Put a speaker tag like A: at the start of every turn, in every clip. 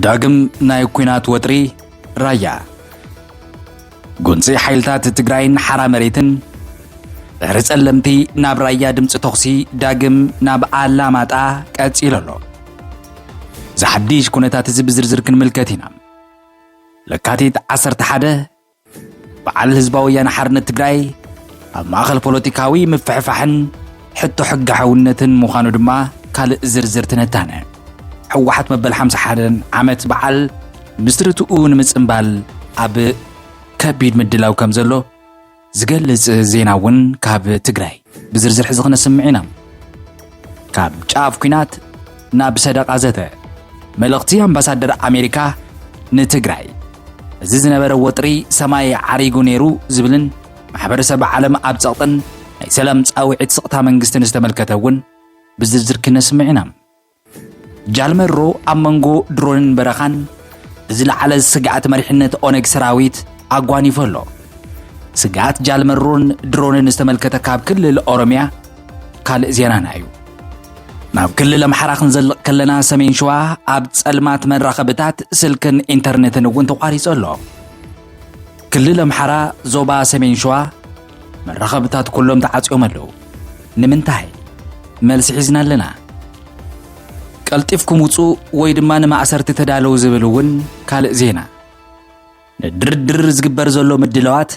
A: ዳግም ናይ ኩናት ወጥሪ ራያ ጉንፂ ሓይልታት ትግራይን ሓራ መሬትን ድሕሪ ጸለምቲ ናብ ራያ ድምፂ ተኹሲ ዳግም ናብ ኣላማጣ ቀፂሉ ኣሎ እዚ ሓድሽ ኩነታት እዚ ብዝርዝር ክንምልከት ኢና ለካቲት 11 በዓል ህዝባዊ ወያነ ሓርነት ትግራይ ኣብ ማእኸል ፖለቲካዊ ምፍሕፋሕን ሕቶ ሕገ ሓውነትን ምዃኑ ድማ ካልእ ዝርዝር ትንታነ። ህወሓት መበል ሓምሳ ሓደን ዓመት በዓል ምስረትኡ ንምጽንባል ኣብ ከቢድ ምድላው ከም ዘሎ ዝገልጽ ዜና እውን ካብ ትግራይ ብዝርዝር ሕዚ ክነስምዕ ኢና። ካብ ጫፍ ኩናት ናብ ሰደቓ ዘተ መልእኽቲ ኣምባሳደር ኣሜሪካ ንትግራይ እዚ ዝነበረ ወጥሪ ሰማይ ዓሪጉ ነይሩ ዝብልን ማሕበረሰብ ዓለም ኣብ ጸቕጥን ናይ ሰላም ጻውዒት ስቕታ መንግስትን ዝተመልከተ እውን ብዝርዝር ክነስምዕ ኢና። ጃልመሮ ኣብ መንጎ ድሮንን በረኻን ብዝለዓለ ስግኣት መሪሕነት ኦነግ ሰራዊት ኣጓኒፎ ኣሎ። ስግኣት ጃልመሮን ድሮንን ዝተመልከተ ካብ ክልል ኦሮምያ ካልእ ዜናና እዩ ናብ ክልል ኣምሓራ ክንዘልቕ ከለና ሰሜን ሸዋ ኣብ ጸልማት መራኸብታት ስልክን ኢንተርነትን እውን ተቋሪጹ ኣሎ ክልል ኣምሓራ ዞባ ሰሜን ሸዋ መራኸብታት ኩሎም ተዓጽዮም ኣለዉ ንምንታይ መልሲ ሒዝና ኣለና ቀልጢፍኩም ውፁ ወይ ድማ ንማእሰርቲ ተዳለዉ ዝብል እውን ካልእ ዜና ንድርድር ዝግበር ዘሎ ምድለዋት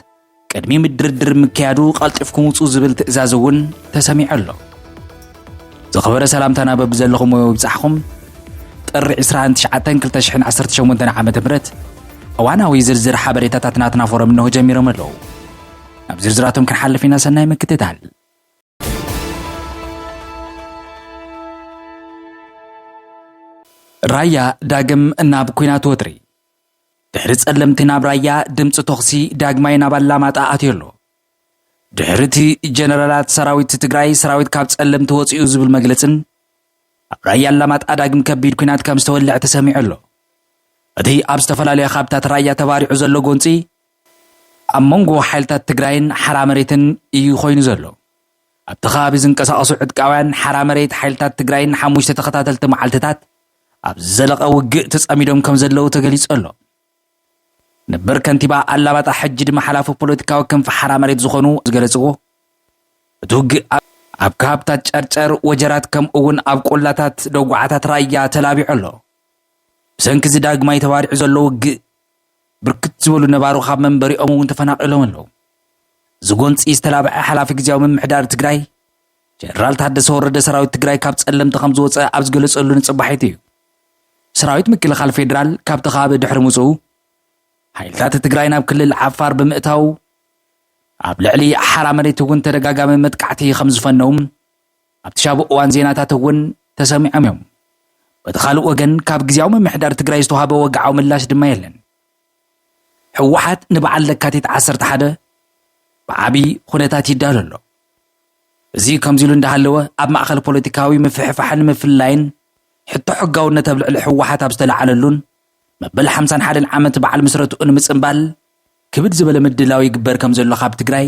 A: ቅድሚ ምድርድር ምክያዱ ቀልጢፍኩም ውፁ ዝብል ትእዛዝ እውን ተሰሚዑ ኣሎ ዝኸበረ ሰላምታና በብዘለኹሞ ይብጻሕኹም። ጥሪ 29/2018 ዓ.ም እዋናዊ ዝርዝር ሓበሬታታት ናትና ፎረም እንሆ ጀሚሮም ኣለዉ። ናብ ዝርዝራቶም ክንሓልፍ ኢና። ሰናይ ምክትታል። ራያ ዳግም ናብ ኩናት ወጥሪ ድሕሪ ጸለምቲ ናብ ራያ ድምፂ ቶኽሲ ዳግማይ ናብ ኣላማጣ ኣትዮ ኣሎ። ድሕሪቲ ጀነራላት ሰራዊት ትግራይ ሰራዊት ካብ ፀለምቲ ወፂኡ ዝብል መግለፅን ኣብ ራያ ኣላማጣ ዳግም ከቢድ ኩናት ከም ዝተወልዐ ተሰሚዑ ኣሎ። እቲ ኣብ ዝተፈላለዩ ካብታት ራያ ተባሪዑ ዘሎ ጎንፂ ኣብ መንጎ ሓይልታት ትግራይን ሓራ መሬትን እዩ ኮይኑ ዘሎ። ኣብቲ ከባቢ ዝንቀሳቐሱ ዕጥቃውያን ሓራ መሬት ሓይልታት ትግራይ ንሓሙሽተ ተኸታተልቲ መዓልትታት ኣብ ዝዘለቐ ውግእ ተጸሚዶም ከም ዘለዉ ተገሊጹ ኣሎ። ነበር ከንቲባ ኣላባጣ ሕጂ ድማ ሓላፊ ፖለቲካዊ ክንፊ ሓራ መሬት ዝኾኑ ዝገለጽዎ፣ እቲ ውግእ ኣብ። ኣብ ከባብታት ጨርጨር፣ ወጀራት ከምኡ እውን ኣብ ቆላታት ደጉዓታት ራያ ተላቢዑ ኣሎ። ብሰንኪ እዚ ዳግማይ ተባሪዑ ዘሎ ውግእ ብርክት ዝበሉ ነባሮ ካብ መንበሪኦም እውን ተፈናቒሎም ኣለዉ። እዚ ጎንፂ ዝተላብዐ ሓላፊ ግዜያዊ ምምሕዳር ትግራይ ጀነራል ታደሰ ወረደ ሰራዊት ትግራይ ካብ ፀለምቲ ከምዝወፀ ኣብ ዝገለፀሉ ንፅባሒቱ እዩ። ሰራዊት ምክልኻል ፌዴራል ካብቲ ከባቢ ድሕሪ ምፅኡ ሓይልታት ትግራይ ናብ ክልል ዓፋር ብምእታው ኣብ ልዕሊ ሓራ መሬት እውን ተደጋጋሚ መጥቃዕቲ ከም ዝፈነው ኣብቲ ሻቡ እዋን ዜናታት እውን ተሰሚዖም እዮም። በቲ ካልእ ወገን ካብ ግዜያዊ ምምሕዳር ትግራይ ዝተዋህበ ወግዓዊ ምላሽ ድማ የለን። ህወሓት ንበዓል ለካቲት 11 ብዓብዪ ኩነታት ይዳሎ ኣሎ። እዚ ከምዚ ኢሉ እንዳሃለወ ኣብ ማእኸል ፖለቲካዊ ምፍሕፋሕን ምፍላይን ሕቶ ሕጋውነት ኣብ ልዕሊ ህወሓት ኣብ ዝተለዓለሉን መበል ሓምሳን ሓደን ዓመት በዓል ምስረትኡ ንምፅምባል ክብድ ዝበለ ምድላው ይግበር ከምዘሎ ካብ ትግራይ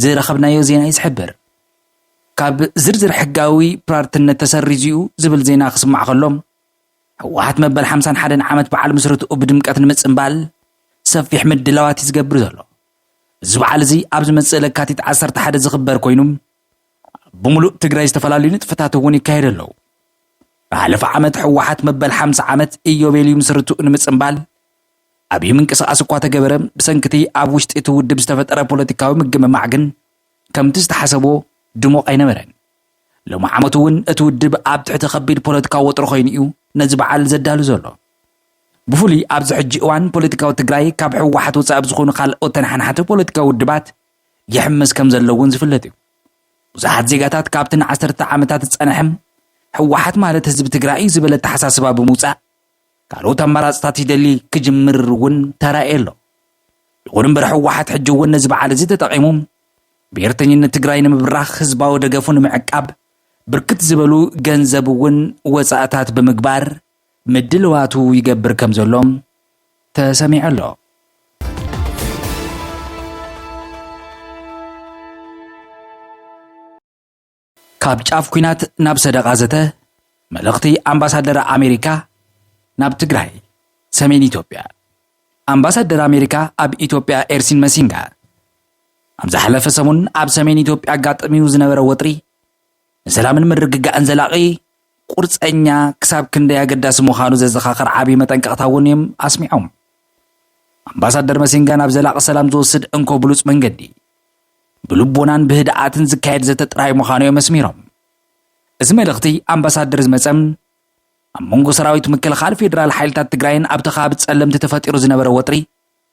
A: ዝረኸብናዮ ዜና እዩ ዝሕብር። ካብ ዝርዝር ሕጋዊ ፕራርትነት ተሰሪዙ'ዩ ዝብል ዜና ክስማዕ ከሎ፣ ህወሓት መበል ሓምሳን ሓደን ዓመት በዓል ምስረትኡ ብድምቀት ንምፅምባል ሰፊሕ ምድላዋት እዩ ዝገብር ዘሎ። እዚ በዓል እዚ ኣብ ዝመፅእ ለካቲት ዓሰርተ ሓደ ዝኽበር ኮይኑ፣ ብምሉእ ትግራይ ዝተፈላለዩ ንጥፈታት እውን ይካየዱ ኣለዉ። ዝሓለፈ ዓመት ህወሓት መበል ሓምሳ ዓመት ኢዮቤልዩ ምስርትኡ ንምፅምባል ዓብዪ ምንቅስቓስ እኳ ተገበረ ብሰንኪ እቲ ኣብ ውሽጢ እቲ ውድብ ዝተፈጠረ ፖለቲካዊ ምግምማዕ ግን ከምቲ ዝተሓሰቦ ድሙቕ ኣይነበረን። ሎሚ ዓመት እውን እቲ ውድብ ኣብ ትሕቲ ከቢድ ፖለቲካዊ ወጥሮ ኮይኑ እዩ ነዚ በዓል ዘዳሉ ዘሎ። ብፍሉይ ኣብዚ ሕጂ እዋን ፖለቲካዊ ትግራይ ካብ ህወሓት ወፃኢ ብዝኾኑ ካልኦት ተነሓናሕቲ ፖለቲካዊ ውድባት ይሕምስ ከም ዘሎ እውን ዝፍለጥ እዩ። ብዙሓት ዜጋታት ካብቲ ንዓሰርተ ዓመታት ዝጸንሐ ህወሓት ማለት ህዝቢ ትግራይ እዩ ዝበለ ኣተሓሳስባ ብምውጻእ ካልኦት ኣማራፅታት ይደሊ ክጅምር እውን ተራእየ ኣሎ። ይኹን እምበር ህወሓት ሕጂ እውን ነዚ በዓል እዚ ተጠቒሙ ብሄርተኝነት ትግራይ ንምብራኽ ህዝባዊ ደገፉ ንምዕቃብ ብርክት ዝበሉ ገንዘብ እውን ወፃእታት ብምግባር ምድልዋቱ ይገብር ከምዘሎ ተሰሚዑ ኣሎ። ካብ ጫፍ ኩናት ናብ ሰደቓ ዘተ መልእኽቲ ኣምባሳደር ኣሜሪካ ናብ ትግራይ ሰሜን ኢትዮጵያ ኣምባሳደር ኣሜሪካ ኣብ ኢትዮጵያ ኤርሲን መሲንጋ ኣብ ዝሓለፈ ሰሙን ኣብ ሰሜን ኢትዮጵያ ኣጋጠሚኡ ዝነበረ ወጥሪ ንሰላምን ምርግጋእን ዘላቒ ቁርፀኛ ክሳብ ክንደይ ኣገዳሲ ምዃኑ ዘዘኻኽር ዓብዪ መጠንቀቕታ እውን እዮም ኣስሚዖም። ኣምባሳደር መሲንጋ ናብ ዘላቒ ሰላም ዝወስድ እንኮ ብሉፅ መንገዲ ብልቦናን ብህድኣትን ዝካየድ ዘተ ጥራይ ምዃኑ እዮም ኣስሚሮም። እዚ መልእኽቲ ኣምባሳደር ዝመፀም ኣብ መንጎ ሰራዊት ምክልኻል ፌዴራል ሓይልታት ትግራይን ኣብቲ ከባቢ ፀለምቲ ተፈጢሩ ዝነበረ ወጥሪ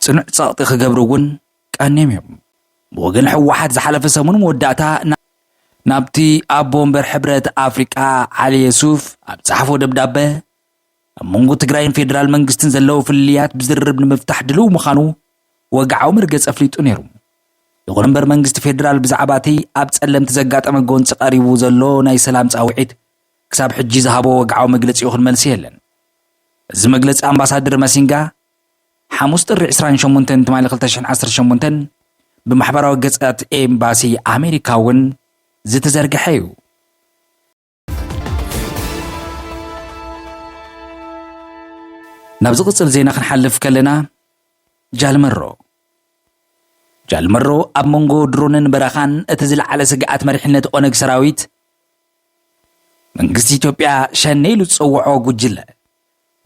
A: ፅኑዕ ፀቕጢ ክገብሩ እውን ቀንዮም እዮም። ብወገን ህወሓት ዝሓለፈ ሰሙን መወዳእታ ናብቲ ኣቦ ወንበር ሕብረት ኣፍሪቃ ዓሊ የሱፍ ኣብ ፀሓፎ ደብዳበ ኣብ መንጎ ትግራይን ፌዴራል መንግስትን ዘለዉ ፍልልያት ብዝርርብ ንምፍታሕ ድልው ምዃኑ ወግዓዊ መርገፂ ኣፍሊጡ ነይሩ። ይኹን እምበር መንግስቲ ፌዴራል ብዛዕባ እቲ ኣብ ጸለምቲ ዘጋጠመ ጎንፂ ቀሪቡ ዘሎ ናይ ሰላም ጻውዒት ክሳብ ሕጂ ዝሃቦ ወግዓዊ መግለፂ ይኹን መልሲ የለን። እዚ መግለፂ ኣምባሳደር መሲንጋ ሓሙስ ጥሪ ዕስራን ሸሞንተን ትማሊ ክልተ ሽሕን ዓሰርተ ሸሞንተን ብማሕበራዊ ገጻት ኤምባሲ ኣሜሪካ እውን ዝተዘርግሐ እዩ። ናብ ዝቕጽል ዜና ክንሓልፍ ከለና ጃልመሮ ጃልመሮ ኣብ መንጎ ድሮንን በረኻን እቲ ዝለዓለ ስግኣት መሪሕነት ኦነግ ሰራዊት መንግስቲ ኢትዮጵያ ሸኔ ኢሉ ዝፀውዖ ጉጅለ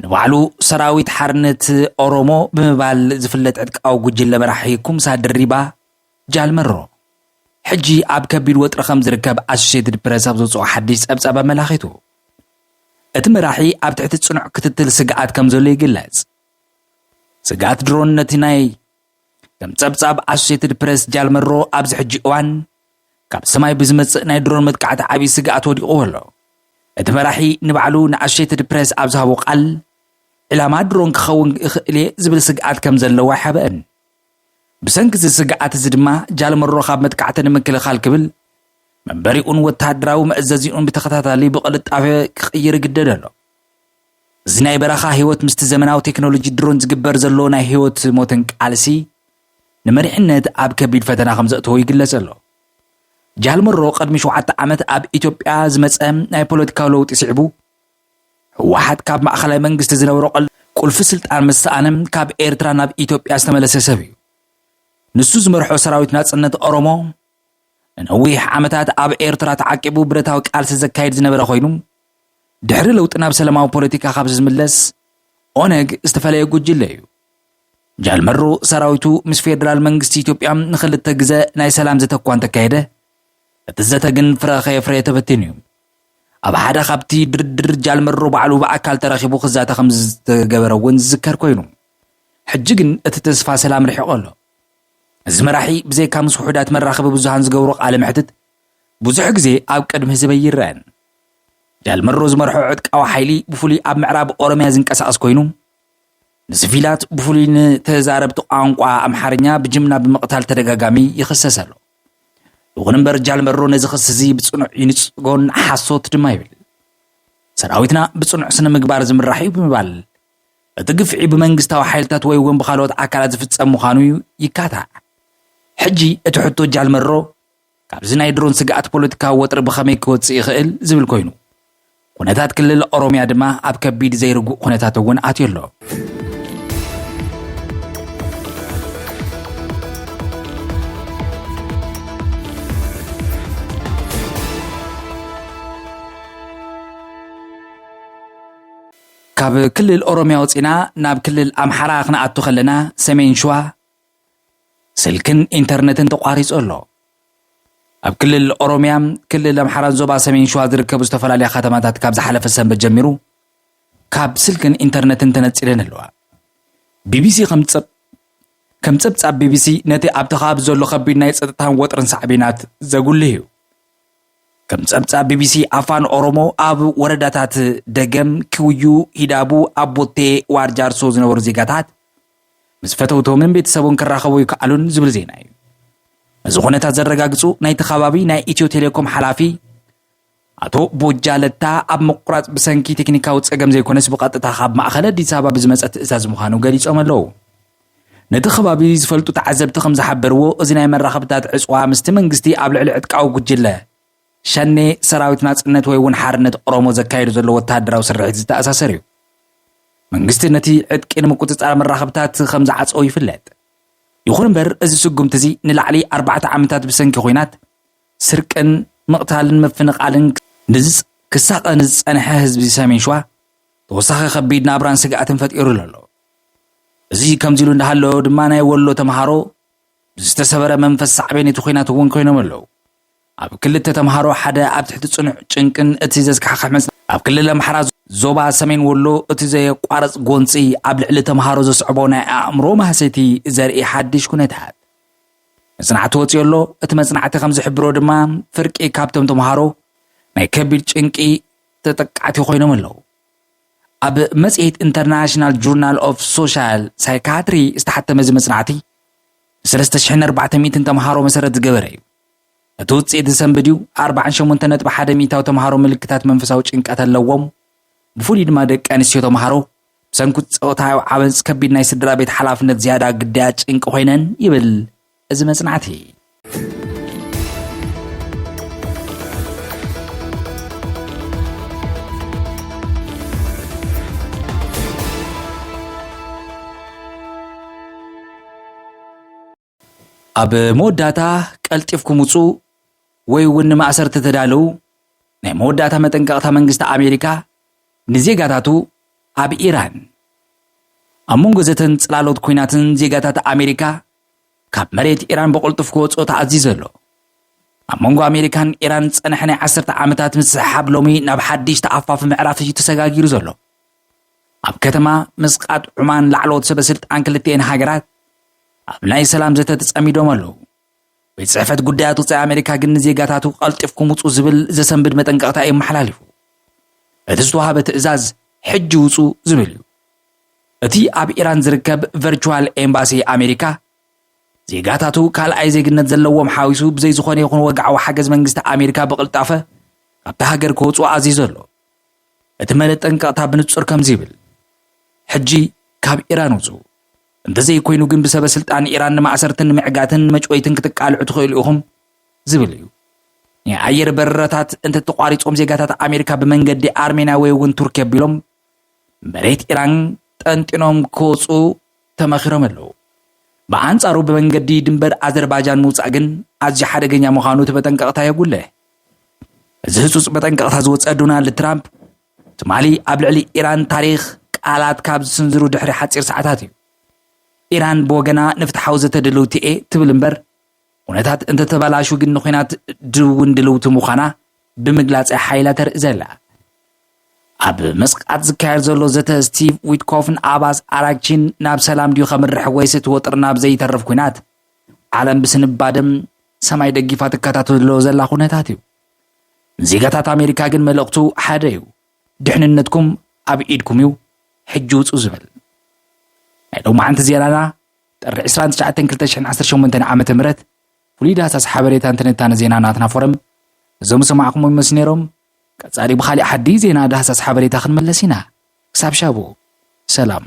A: ንባዕሉ ሰራዊት ሓርነት ኦሮሞ ብምባል ዝፍለጥ ዕጥቃዊ ጉጅለ መራሒ ኩምሳ ድሪባ፣ ጃል መሮ፣ ሕጂ ኣብ ከቢድ ወጥሪ ከም ዝርከብ ኣሶሴይትድ ፕረስ ኣብ ዘውጽኦ ሓድሽ ጸብጻብ ኣመላኺቱ። እቲ መራሒ ኣብ ትሕቲ ጽኑዕ ክትትል ስግኣት ከም ዘሎ ይግለጽ። ስግኣት ድሮን ነቲ ናይ ከም ጸብጻብ ኣሶሴትድ ፕረስ ጃል መሮ ኣብዚ ሕጂ እዋን ካብ ሰማይ ብዝመጽእ ናይ ድሮን መጥቃዕቲ ዓብዪ ስግኣት ወዲቕዎ ኣሎ። እቲ መራሒ ንባዕሉ ንኣሶሴትድ ፕረስ ኣብ ዝሃቦ ቃል ዕላማ ድሮን ክኸውን ይኽእል እየ ዝብል ስግኣት ከም ዘለዎ ኣይሓበእን። ብሰንኪ እዚ ስግኣት እዚ ድማ ጃልመሮ ካብ መጥቃዕቲ ንምክልኻል ክብል መንበሪኡን ወተሃደራዊ መእዘዚኡን ብተኸታታሊ ብቕልጣፈ ክቕይር ይግደድ ኣሎ። እዚ ናይ በረኻ ህይወት ምስቲ ዘመናዊ ቴክኖሎጂ ድሮን ዝግበር ዘሎ ናይ ህይወት ሞትን ቃልሲ ንመሪሕነት ኣብ ከቢድ ፈተና ከም ዘእተዎ ይግለጽ ኣሎ። ጃል መሮ ቅድሚ ሸውዓተ ዓመት ኣብ ኢትዮጵያ ዝመጸ ናይ ፖለቲካዊ ለውጢ ስዒቡ ህወሓት ካብ ማእኸላይ መንግስቲ ዝነበሮ ቁልፊ ስልጣን ምስ ሰኣነ ካብ ኤርትራ ናብ ኢትዮጵያ ዝተመለሰ ሰብ እዩ። ንሱ ዝመርሖ ሰራዊት ናጽነት ኦሮሞ ንነዊሕ ዓመታት ኣብ ኤርትራ ተዓቂቡ ብረታዊ ቃልሲ ዘካይድ ዝነበረ ኮይኑ ድሕሪ ለውጢ ናብ ሰለማዊ ፖለቲካ ካብ ዝምለስ ኦነግ ዝተፈለየ ጉጅለ እዩ። ጃልመሮ ሰራዊቱ ምስ ፌደራል መንግስቲ ኢትዮጵያ ንክልተ ግዘ ናይ ሰላም ዘተ እኳ እንተካየደ እቲ ዘተ ግን ፍረ ከየፍረየ ተበቲኑ እዩ። ኣብ ሓደ ካብቲ ድርድር ጃልመሮ ባዕሉ ብኣካል ተረኺቡ ክዛተ ከም ዝተገበረ እውን ዝዝከር ኮይኑ ሕጂ ግን እቲ ተስፋ ሰላም ርሒቑ ኣሎ እዚ መራሒ ብዘይካ ምስ ውሑዳት መራኸቢ ብዙሃን ዝገብሮ ቃለ መሕትት ብዙሕ ግዜ ኣብ ቅድሚ ህዝበይ ይረአን ጃልመሮ ዝመርሖ ዕጥቃዊ ሓይሊ ብፍሉይ ኣብ ምዕራብ ኦሮምያ ዝንቀሳቐስ ኮይኑ ንስቪላት ብፍሉይ ንተዛረብቲ ቋንቋ ኣምሓርኛ ብጅምላ ብምቕታል ተደጋጋሚ ይኽሰስ ኣሎ። ይኹን እምበር ጃልመሮ ነዚ ክሲ እዚ ብጽኑዕ ይንጽጎን ሓሶት ድማ ይብል። ሰራዊትና ብጽኑዕ ስነ ምግባር ዝምራሕ እዩ ብምባል እቲ ግፍዒ ብመንግስታዊ ሓይልታት ወይ እውን ብካልኦት ኣካላት ዝፍጸም ምዃኑ ይካታዕ። ሕጂ እቲ ሕቶ ጃልመሮ ካብዚ ናይ ድሮን ስግኣት ፖለቲካዊ ወጥሪ ብኸመይ ክወጽእ ይኽእል ዝብል ኮይኑ፣ ኩነታት ክልል ኦሮምያ ድማ ኣብ ከቢድ ዘይርጉእ ኩነታት እውን ኣትዩ ኣሎ። ካብ ክልል ኦሮምያ ወፂና ናብ ክልል ኣምሓራ ክንኣቱ ከለና ሰሜን ሽዋ ስልክን ኢንተርነትን ተቋሪፁ ኣሎ። ኣብ ክልል ኦሮሚያ፣ ክልል ኣምሓራን ዞባ ሰሜን ሸዋ ዝርከቡ ዝተፈላለያ ከተማታት ካብ ዝሓለፈ ሰንበት ጀሚሩ ካብ ስልክን ኢንተርነትን ተነፂለን ኣለዋ። ቢቢሲ ከም ከም ጸብጻብ ቢቢሲ ነቲ ኣብቲ ከባቢ ዘሎ ከቢድ ናይ ጸጥታን ወጥርን ሳዕቤናት ዘጉልህ እዩ ከም ጸብጻብ ቢቢሲ ኣፋን ኦሮሞ ኣብ ወረዳታት ደገም ክውዩ ሂዳቡ ኣቦቴ ዋርጃርሶ ዝነበሩ ዜጋታት ምስ ፈተውቶምን ቤተሰቡን ክራኸቡ ይከኣሉን ዝብል ዜና እዩ። ነዚ ኩነታት ዘረጋግፁ ናይቲ ከባቢ ናይ ኢትዮ ቴሌኮም ሓላፊ ኣቶ ቦጃ ለታ ኣብ ምቁራፅ ብሰንኪ ቴክኒካዊ ፀገም ዘይኮነስ ብቐጥታ ካብ ማእኸል ኣዲስ ኣበባ ብዝመፀ ትእዛዝ ምዃኑ ገሊፆም ኣለዉ። ነቲ ከባቢ ዝፈልጡ ተዓዘብቲ ከም ዝሓበርዎ እዚ ናይ መራኸብታት ዕፅዋ ምስቲ መንግስቲ ኣብ ልዕሊ ዕጥቃዊ ጉጅለ ሸኔ ሰራዊት ናጽነት ወይ እውን ሓርነት ኦሮሞ ዘካየዱ ዘሎ ወተሃደራዊ ስርሒት ዝተኣሳሰር እዩ። መንግስቲ ነቲ ዕጥቂ ንምቁጽጻር መራኸብታት ከም ዝዓጸው ይፍለጥ። ይኹን እምበር እዚ ስጉምቲ እዚ ንላዕሊ ኣርባዕተ ዓመታት ብሰንኪ ኹናት ስርቅን ምቕታልን ምፍንቓልን ንዝጽ ክሳቐ ንዝጸንሐ ህዝቢ ሰሜን ሸዋ ተወሳኺ ከቢድ ናብራን ስግኣትን ፈጢሩሉ ኣሎ። እዚ ከምዚ ኢሉ እንዳሃለወ ድማ ናይ ወሎ ተምሃሮ ብዝተሰበረ መንፈስ ሳዕቤን እቲ ኹናት እውን ኮይኖም ኣለዉ። ኣብ ክልተ ተምሃሮ ሓደ ኣብ ትሕቲ ጽኑዕ ጭንቅን እቲ ዘስካሕኽሕ መጽናዕቲ ኣብ ክልል ኣምሓራ ዞባ ሰሜን ወሎ እቲ ዘየቋርጽ ጎንጺ ኣብ ልዕሊ ተምሃሮ ዘስዕቦ ናይ ኣእምሮ ማህሰይቲ ዘርኢ ሓድሽ ኩነታት መጽናዕቲ ወጺኦ ኣሎ። እቲ መጽናዕቲ ከም ዝሕብሮ ድማ ፍርቂ ካብቶም ተምሃሮ ናይ ከቢድ ጭንቂ ተጠቃዕቲ ኮይኖም ኣለዉ። ኣብ መጽሔት ኢንተርናሽናል ጆርናል ኦፍ ሶሻል ሳይካትሪ ዝተሓተመ እዚ መጽናዕቲ ንሰለስተ ሽሕን ኣርባዕተ ሚእትን ተምሃሮ መሰረት ዝገበረ እዩ። እቲ ውጽኢት ዝሰንብድ እዩ፣ ኣርብዓን ሸሞንተ ነጥቢ ሓደ ሚእታዊ ተምሃሮ ምልክታት መንፈሳዊ ጭንቀት ኣለዎም፣ ብፍሉይ ድማ ደቂ ኣንስትዮ ተምሃሮ ብሰንኩ ጾታዊ ዓመጽ ከቢድ ናይ ስድራ ቤት ሓላፍነት ዝያዳ ግዳያት ጭንቂ ኮይነን ይብል እዚ መጽናዕቲ። ኣብ መወዳእታ ቀልጢፍኩም ውጹ ወይ እውን ንማእሰርቲ ተዳለዉ ናይ መወዳእታ መጠንቀቕታ መንግስቲ ኣሜሪካ ንዜጋታቱ ኣብ ኢራን ኣብ መንጎ ዘተን ጽላሎት ኩናትን ዜጋታት ኣሜሪካ ካብ መሬት ኢራን ብቕልጡፍ ክወጽኦ ተኣዚዘ ኣሎ ኣብ መንጎ ኣሜሪካን ኢራን ዝጸንሐ ናይ ዓሰርተ ዓመታት ምስሕሓብ ሎሚ ናብ ሓድሽ ተኣፋፊ ምዕራፍ እዩ ተሰጋጊሩ ዘሎ ኣብ ከተማ ምስቃጥ ዑማን ላዕለዎት ሰበ ስልጣን ክልቲኤን ሃገራት ኣብ ናይ ሰላም ዘተ ተጸሚዶም ኣለዉ። ቤት ጽሕፈት ጉዳያት ወጻኢ ኣሜሪካ ግን ንዜጋታቱ ቀልጢፍኩም ውጹ ዝብል ዘሰንብድ መጠንቀቕታ እዩ ኣመሓላሊፉ። እቲ ዝተዋሃበ ትእዛዝ ሕጂ ውጹ ዝብል እዩ። እቲ ኣብ ኢራን ዝርከብ ቨርቹዋል ኤምባሲ ኣሜሪካ ዜጋታቱ ካልኣይ ዜግነት ዘለዎም ሓዊሱ ብዘይ ዝኾነ ይኹን ወግዓዊ ሓገዝ መንግስቲ ኣሜሪካ ብቕልጣፈ ካብቲ ሃገር ክወፁ ኣዚዙ ኣሎ እቲ መለጠንቀቕታ ብንጹር ከምዚ ይብል፣ ሕጂ ካብ ኢራን ውጹ፣ እንተዘይኮይኑ ግን ብሰበስልጣን ኢራን ንማእሰርትን ንምዕጋትን ንመጭወይትን ክትቃልዑ ትኽእሉ ኢኹም ዝብል እዩ። ናይ ኣየር በረራታት እንተተቋሪጾም ዜጋታት ኣሜሪካ ብመንገዲ ኣርሜንያ ወይ እውን ቱርኪ ኣቢሎም መሬት ኢራን ጠንጢኖም ክወጹ ተመኺሮም ኣለዉ። ብኣንጻሩ ብመንገዲ ድንበር ኣዘርባጃን ምውጻእ ግን ኣዝዩ ሓደገኛ ምዃኑ እቲ መጠንቀቕታ የጉልሕ። እዚ ህጹጽ መጠንቀቕታ ዝወጸ ዶናልድ ትራምፕ ትማሊ ኣብ ልዕሊ ኢራን ታሪኽ ቃላት ካብ ዝስንዝሩ ድሕሪ ሓጺር ሰዓታት እዩ። ኢራን ብወገና ንፍትሓዊ ዘተ ድልውቲ እየ ትብል እምበር ኩነታት እንተተበላሹ ግን ንኩናት ድውን ድልውቲ ምዃና ብምግላጽ እያ ሓይላ ተርኢ ዘላ ኣብ መስቃት ዝካየድ ዘሎ ዘተ ስቲቭ ዊትኮፍን ኣባስ ኣራግቺን ናብ ሰላም ድዩ ከምርሕ ወይስ እቲ ወጥሪ ናብ ዘይተርፍ ኩናት ዓለም ብስንባደም ሰማይ ደጊፋ ትከታተሎ ዘላ ኩነታት እዩ። ንዜጋታት ኣሜሪካ ግን መልእኽቱ ሓደ እዩ፣ ድሕንነትኩም ኣብ ኢድኩም እዩ፣ ሕጂ ውጹ ዝብል። ናይ ሎማዓንቲ ዜናና ጥሪ ዕስራን ትሽዓተን ክልተ ሽሕን ዓሰርተ ሸሞንተን ዓመተ ምህረት ፍሉይ ዳህሳስ ሓበሬታን ትንታነ ዜና ናትና ፎረም እዞም ዝሰማዕኩሞ ይመስሉ ነይሮም። ቀጻሊ ብኻሊእ ሓዲ ዜና ዳህሳስ ሓበሬታ ክንመለስ ኢና። ክሳብ ሻቡ ሰላም።